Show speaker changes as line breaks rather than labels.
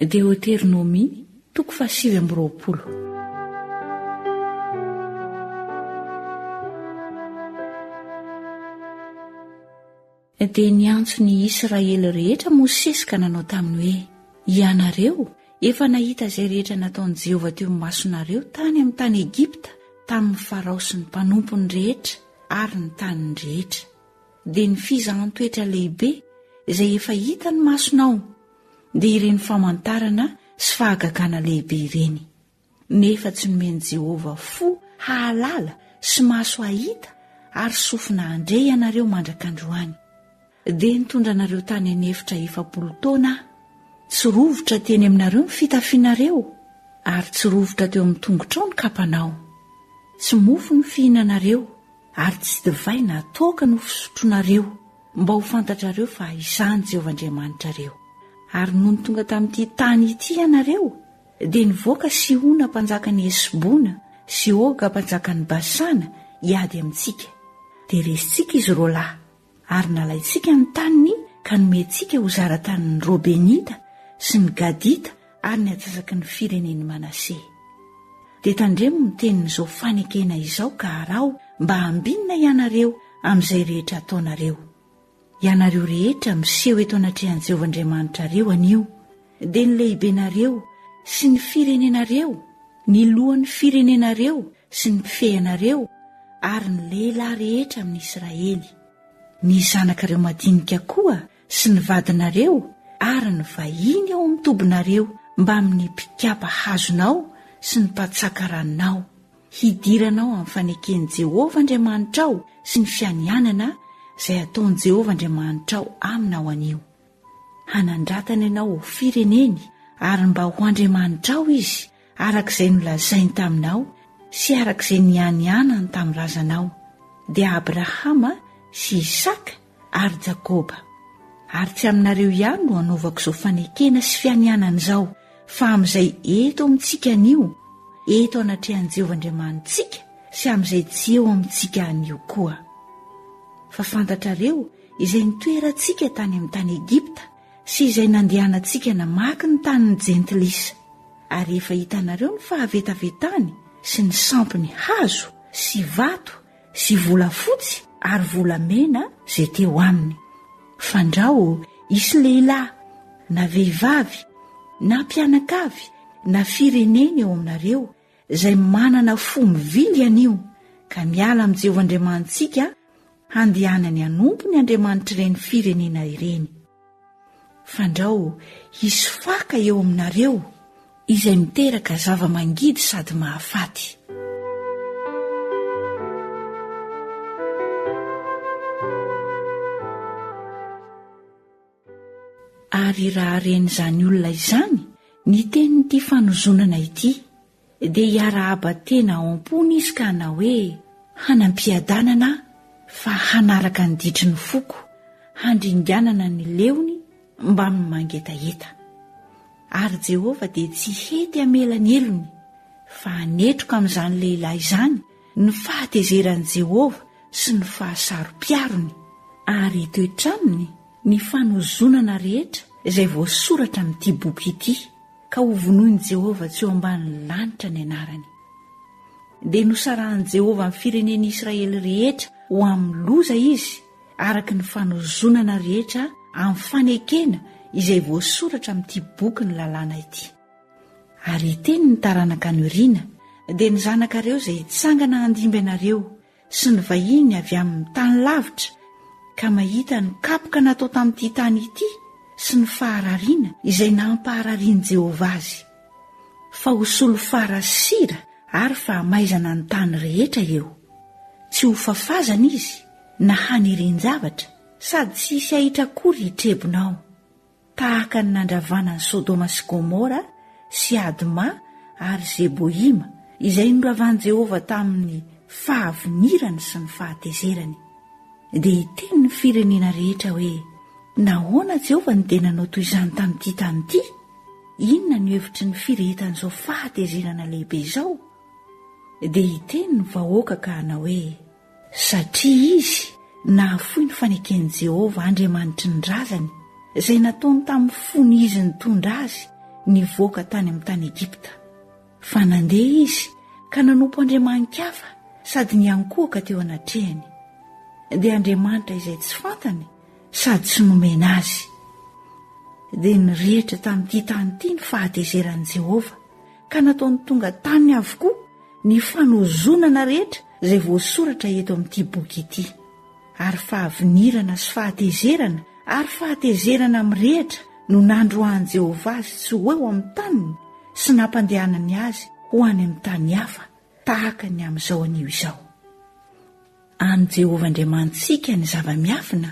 Deoteronomia, toko fahasivy amby roapolo. Dia niantso ny Israely rehetra Mosesy ka nanao taminy hoe, Ianareo efa nahita izay rehetra nataon'i Jehovah teo amin'ny masonareo tany amin'ny tany Egipta tamin'ny Farao sy ny mpanompony rehetra ary ny taniny rehetra. Dia ny fizahan-toetra lehibe izay efa hitan'ny masonao dia ireny famantarana sy fahagagana lehibe ireny, nefa tsy nomen'i Jehovah fo hahalala sy maso hahita ary sofina handre ianareo mandrak'androany. Dia nitondra anareo tany an'efitra efapolo taona aho. Tsy rovitra teny aminareo ny fitafianareo, ary tsy rovitra teo amin'ny tongotrao ny kapanao. Tsy mofo no fihinanareo, ary tsy divay na toaka no fisotroanareo, Mba ho fantatrareo fa izaho ny Jehovah Andriamanitrareo. Ary nony tonga tamin'ity tany ity ianareo, dia nivoaka Sihona mpanjakan'i Hesbona sy Oga mpanjakan'i Basana hiady amintsika. Dia resintsika izy roalahy, ary nalaintsika ny taniny ka nomentsika ho zara-tanin'ny Robenita sy ny Gadita ary ny atsasaky ny firenen'i Manase. Dia tandremo ny tenin'izao fanekena izao ka araho mba hambinina ianareo amin'izay rehetra ataonareo. Ianareo rehetra miseho eto anatrehan'i Jehovah Andriamanitrareo anio, dia ny lehibenareo sy ny firenenareo, ny lohan'ny firenenareo sy ny mpifehy anareo ary ny lehilahy rehetra amin'i Israely. Ny zanakareo madinika koa sy ny vadinareo ary ny vahiny ao amin'ny tobinareo mbamin'ny mpikapa hazonao sy ny mpatsaka ranonao, hidiranao amin'ny faneken'i Jehovah Andriamanitrao sy ny fianianana izay ataon'i Jehovah Andriamanitrao aminao anio. Hanandratana ianao ho fireneny ary mba ho Andriamanitrao izy, araka izay nolazainy taminao sy araka izay nianianany tamin'ny razanao, dia Abrahama sy Isaka ary Jakoba. Ary tsy aminareo ihany no hanaovako izao fanekena sy fianianana izao, fa amin'izay eto amintsika anio, eto anatrehan'i Jehovah Andriamanitsika sy amin'izay tsy eo amintsika anio koa. Fa fantatrareo izay nitoerantsika tany amin'ny tany Egypta sy izay nandehanantsika namaky ny tanin'ny Jentilisa, ary efa hitanareo ny fahavetavetany sy ny sampy ny hazo sy vato sy volafotsy ary volamena izay teo aminy. Fandrao hisy lehilahy na vehivavy na mpianakavy na firenena eo aminareo izay manana fo mivily anio ka miala amin'i Jehovah Andriamanitsika handehanany hanompo ny Andriamanitr'ireny firenena ireny. Fandrao hisy faka eo aminareo izay miteraka zava-mangidy sady mahafaty. Ary raha ren'izany olona izany ny tenin'ity fanozonana ity, dia hiarahaba tena ao am-pony izy ka hanao hoe, Hanam-piadanana aho fa hanaraka ny ditry ny foko, handringanana ny leony mbamin'ny mangetaheta. Ary Jehovah dia tsy hety hamela ny helony, fa hanetroka amin'izany lehilahy izany ny fahatezeran'i Jehovah sy ny fahasaro-piarony, ary hitoetra aminy ny fanozonana rehetra izay voasoratra amin'ity boky ity. ka hovonoin'i Jehovah tsy eo ambanin'ny lanitra ny anarany. Dia nosarahan'i Jehovah ny firenen'i Israely rehetra ho amin'ny loza izy, araka ny fanozonana rehetra amin'ny fanekena izay voasoratra amin'ity boky ny lalàna ity. Ary hiteny ny taranaka anio riana, dia ny zanakareo izay hitsangana handimby anareo, sy ny vahiny avy amin'ny tany lavitra ka mahita ny kapoka natao tamin'ity tany ity sy ny faharariana izay nampahararian'i Jehovah azy, fa ho solifara sira ary fahamaizana ny tany rehetra eo. Tsy ho fafazana izy na hanirian-javatra, sady tsy hisy ahitra akory hitrebona ao. tahaka ny nandravana an'i Sodoma sy Gomora sy Adma ary Zeboima, izay noravan'i Jehovah tamin'ny fahavinirany sy ny fahatezerany. Dia hiteny ny firenena rehetra hoe, Nahoana Jehovah no dia nanao toy izany tamin'ity tany ity? Inona no hevitry ny firehetan'izao fahatezerana lehibe izao? Dia hiteny ny vahoaka ka hanao hoe, Satria izy nahafoy ny faneken'i Jehovah, Andriamanitry ny razany, izay nataony tamin'ny fony izy nitondra azy nivoaka tany amin'ny tany Egypta. Fa nandeha izy ka nanompo andriamani-kafa sady niankohoka teo anatrehany. Dia andriamanitra izay tsy fantany sady tsy nomena azy. Dia nirehitra tamin'ity tany ity ny fahatezeran'i Jehovah, ka nataony tonga taminy avokoa ny fanozonana rehetra izay voasoratra eto amin'ity boky ity, ary fahavinirana sy fahatezerana ary fahatezerana mirehitra no nandroahan'i Jehovah azy tsy ho eo amin'ny taniny sy nampandehanany azy ho any amin'ny tany hafa tahaka ny amin'izao anio izao. An'i Jehovah Andriamanitsika ny zava-miafina,